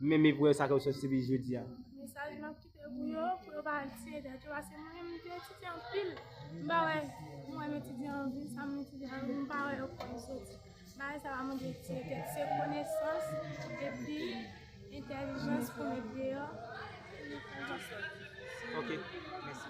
Men me voye sa ke w sot sibi jodi a. Mesaj map kite pou yo, pou yo pa tiye tèt yo paske mwen menm m te etidye anpil m pa wè mwen menm etidye anpil sa m etidye a m pa wè yo fè m soti bagay sa pa mande tiye tèt se konesans epi entèlijans pou met deyò pou nou fè nou soti. Ok, mèsi.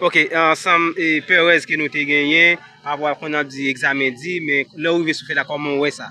Ok ansanm e perèz ke nou te genyen, pa vwa konn ap di egzamen di, men lè ou rive sou fèy la kòman ou wè sa?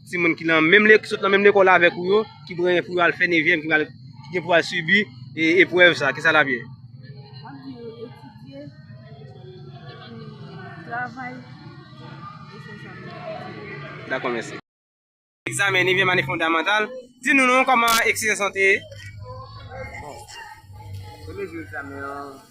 Timoun ki nan menm lek, ki sot nan menm lekòl avèk ou yo, ki prè pou yo al fè nevyèm, ki pral, ki gen pou al sibi e eprèv sa, ki sa l ap ye? M ap di yo etidye, epi travay, e se sa m ap di. Dakò, mèsi. Egzamen nevyèm ane fondamantal. Di nou non, kòman eksizans lan te ye? Bon, premye jou egzamen an.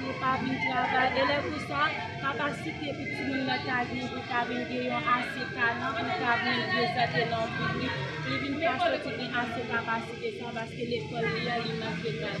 Yo pa vin travay e lè konsa kapasite pou timoun nan ta gen pou ta vin gen yon ase talan pou l ta vin prezante nan piblik li vin pa soti gen ase kapasite sa paske lekòl li a li manke klas.